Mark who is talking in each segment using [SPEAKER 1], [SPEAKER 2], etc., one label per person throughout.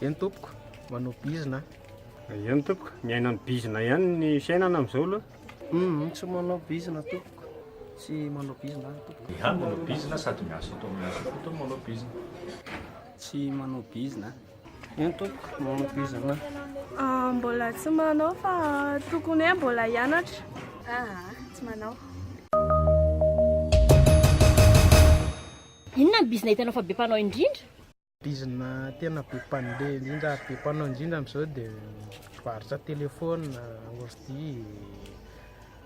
[SPEAKER 1] Eny
[SPEAKER 2] tompoko, manao bizina a. Eny tompoko,
[SPEAKER 3] miaina amin'ny bizina ihany ny fiainana amin'izao aloha. Humm, tsy manao
[SPEAKER 2] bizina tompoko, tsy manao bizina aho tompoko. Ihany manao bizina, sady
[SPEAKER 4] miasa eto amin'ny asa koa tony manao bizina. Tsy
[SPEAKER 2] manao bizina a. Eny tompoko, manao bizina aho. Ah, mbola
[SPEAKER 5] tsy manao fa tokony hoe mbola hianatra. Aa, tsy
[SPEAKER 1] manao. Inona ny bizina hitanao fa be mpanao indrindra? Bizina
[SPEAKER 2] tena be mpandeha indrindra ary be mpanao indrindra amin'izao dia mivarotra telefaonina, ordi,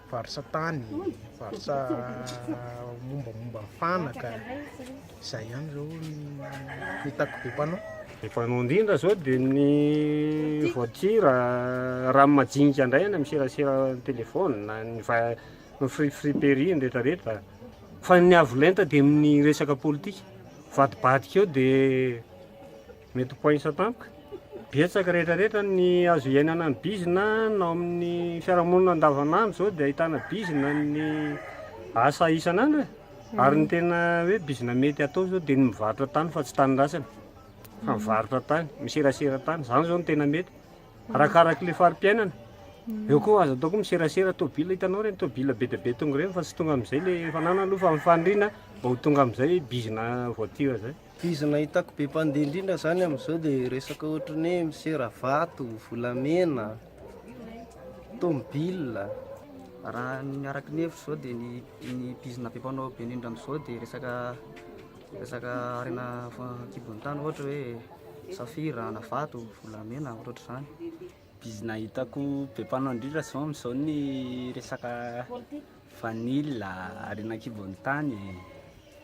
[SPEAKER 2] mivarotra tany, mivarotra mombamomba ny fanaka, izay ihany izao no hitako be mpanao. Be mpanao indrindra
[SPEAKER 3] izao dia ny voiture, raha ny majinika indray any amin'ny serasera telefaonina, ny free free pery, ny retraretra. Fa ny avo lenta dia amin'ny resaka politika, vadibadika eo dia mety ho poinsa tampoka. Betsaka rehetra rehetra ny azo iainana ny bizina na ao amin'ny fiarahamonina andavanandro izao dia ahitana bizina ny asa isan'andro e. Ary ny tena hoe bizina mety atao izao dia ny mivarotra tany fa tsy tany ratsiny fa mivarotra tany, miserasera tany, izany izao no tena mety. Arakaraky le fari-piainana. Eo koa aza atao koa miserasera tobila hitanao ireny tobila be dia be tonga ireny fa tsy tonga amin'izay le fananana aloha fa ny faniriana mba ho tonga amin'izay bizina voiture zay. Bizina hitako be
[SPEAKER 2] mpandeha indrindra zany amin'izao de resaka ohatry ny hoe misera vato, volamena, tobila. Raha
[SPEAKER 6] ny araka ny hevitro zao de ny ny bizina be mpanao be indrindra amin'izao de resaka. Resaka harena an-kibon'ny tany ohatra hoe safira, anavato, volamena, ohatrohatr'izany. Bizina
[SPEAKER 7] hitako be mpanao indrindra izao amin'izao ny resaka vanille, harena an-kibon'ny tany,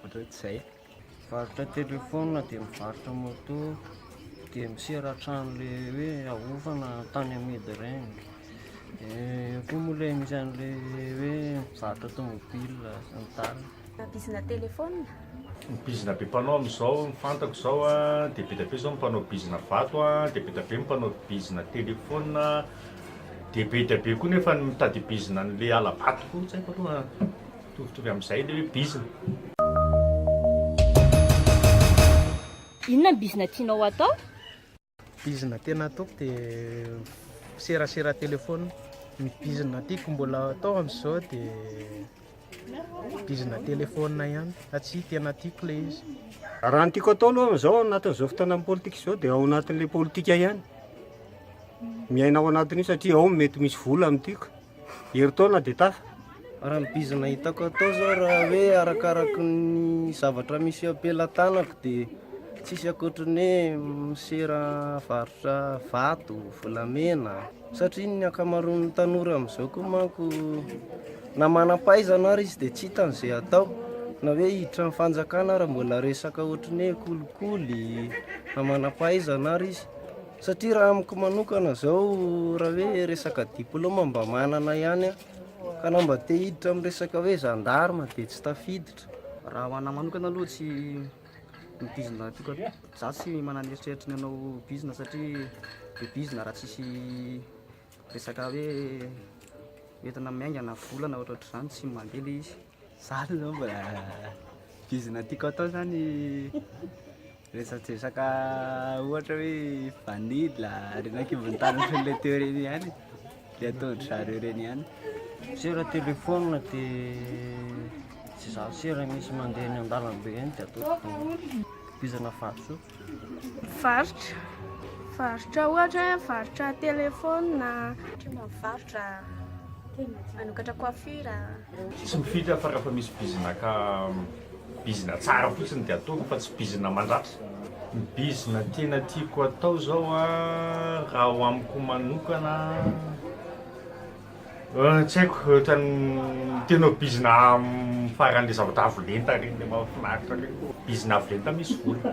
[SPEAKER 7] ohatrohatr'izay. Mivarotra
[SPEAKER 2] telefaonina dia mivarotra moto dia misera hatrany ilay hoe ahofana tany amidy ireny. Dia eo koa moa ilay misy an'ilay hoe mivarotra tômôbila sy ny tariny. Bizina
[SPEAKER 1] téléphone. Ny bizina
[SPEAKER 4] be mpanao amin'izao ny fantako izao a, dia be dia be izao ny mpanao bizina vato a, dia be dia be ny mpanao bizina téléphone a, dia be dia be koa nefa ny mitady bizina an'ilay hala-bato koa, tsy haiko aloha mitovitovy amin'izay ilay hoe bizina.
[SPEAKER 1] Inona ny bizina tianao atao? Bizina
[SPEAKER 2] tena ataoko dia miserasera telefaonina. Ny bizina tiako mbola atao amin'izao dia bizina telefaonina ihany satria tena tiako ilay izy. Raha ny tiako atao
[SPEAKER 3] aloha amin'izao anatin'izao fotoanan'ny politika izao dia ao anatin'ilay politika ihany. Miaina ao anatin'io satria ao no mety misy vola no tiako. Herintaona dia tafa. Raha ny bizina
[SPEAKER 2] hitako atao zao raha hoe arakaraky ny zavatra misy eo am-pelatanako dia tsisy ankoatry ny hoe misera varotra vato, volamena satria ny ankamaroan'ny tanora amin'izao koa manko na manam-pahaizana ary izy dia tsy hitany izay atao na hoe hiditra ny fanjakana ary mbola resaka ohatry ny hoe kolikoly na manam-pahaizana ary izy. Satria raha amiko manokana izao raha hoe resaka diploma mba manana ihany aho ka na mba te hiditra amin'ny resaka hoe gendarme dia tsy tafiditra. Raha ho anahy
[SPEAKER 6] manokana aloha tsy midizona toka, za tsy manana eritreritry ny hanao bizina satria be bizina raha tsisy Resaka hoe entina miainga na vola na ohatrohatr'izany tsy mandeha le izy. Za aloha zao mbola
[SPEAKER 7] bizina tiako atao zany resadresaka ohatra hoe vanila, reny ankibon'ny tany ohatran'ny le teo reny ihany e. Le ataon-dry zareo reny ihany. Satria raha
[SPEAKER 2] téléphone dia tsy zatra si raha misy mandeha eny an-dalambe eny dia ataoko bizina vatosoa. Varotra,
[SPEAKER 5] varotra ohatra hoe varotra telefaonina, varotra
[SPEAKER 1] manokatra coiffure. Tsy mifidy
[SPEAKER 4] aho fa rehefa misy bizina ka bizina tsara fotsiny dia ataoko fa tsy bizina mandratra. Ny bizina tena tiako atao izao raha ho amiko manokana. Tsy haiko ohatran'ny tena bizina faran'le zavatra avo lenta reny le mahafinaritra reny. Bizina avo lenta misy vola.